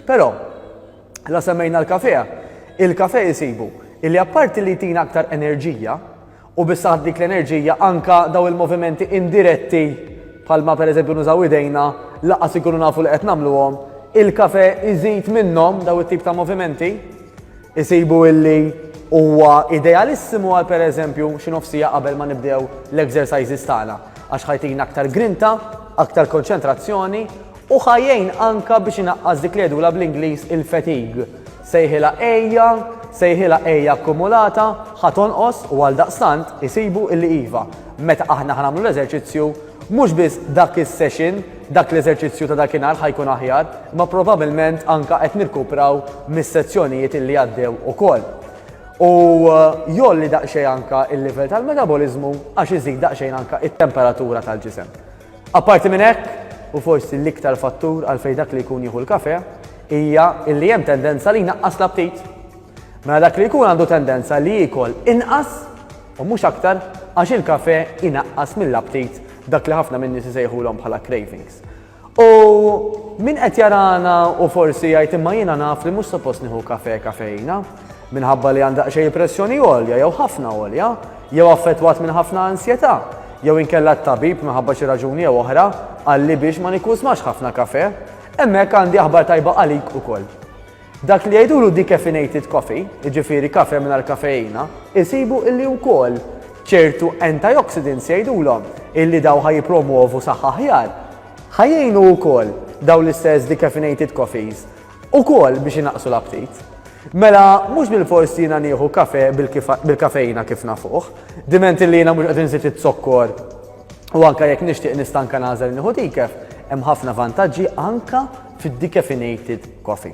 Però, la semmejna l-kafe, il-kafe jisibu illi apparti li jtina aktar enerġija u bissaħ dik l-enerġija anka daw il-movimenti indiretti palma per eżempju nużaw idejna laqas ikunu nafu li qed nagħmluhom, il-kafe iżid minnhom daw it-tip ta' movimenti isibu illi huwa idealissimu għal per eżempju xi nofsija qabel ma nibdew l-exercises tagħna għax ħajtina aktar grinta, aktar konċentrazzjoni U ħa jgħin anke biex inaqqas dik li jgħidulha bl-Ingliż il-fatigue. Sejħilha għejja, sejħilha għejja akkumulata, ħa tonqos u għaldaqstant isibu illi iva, meta aħna ħa nagħmlu l-eżerċizzju, mhux biss dak is-session, dak l-eżerċizzju ta' dakinhar ħa jkun aħjar, imma probabbilment anke qed nirkupraw mis-sezzjonijiet illi għaddew ukoll. U jgħolli daqsxejn anke l-livell tal-metaboliżmu għax iżid daqsxejn anke t-temperatura tal-ġisem. Apparti minn hekk, u forsi l-iktar fattur għalfejn dak li jkun jieħu l-kafè, hija li hemm tendenza li jnaqqas l-aptit. Mela dak li jkun għandu tendenza li jiekol inqas u mhux aktar għax il-kafè inaqqas mill-aptit dak li ħafna min-nies isejħulhom bħala cravings. U min qed jarana u forsi jgħid imma jiena naf li mhux suppost nieħu kafè kafeina, minħabba li għand daqsxejn pressjoni għolja jew ħafna għolja, jew affettwat minn ħafna ansjetà, jew inkella t-tabib minħabba xi raġuni jew oħra qalli biex ma nikkużmax ħafna kafè, hemmhekk għandi aħbar tajba għalik ukoll. Dak li jgħidulu decaffeinated coffee, jiġifieri kafè mingħajr kafeina, isibu illi wkoll ċertu antioxidants jgħidulhom illi dawn ħa jippromwovu saħħa aħjar. Ħa jgħinu wkoll dawn l-istess decaffeinated coffees Ukoll biex inaqqsu l-aptit. Mela mhux bilfors jiena nieħu kafè bil-kafeina kif nafuh, diment li jiena mhux qed inżid iz-zokkor u anke jekk nixtieq nista' anke nagħżel nieħu decaf, hemm ħafna vantaġġi anke fid-decaffeinated coffee.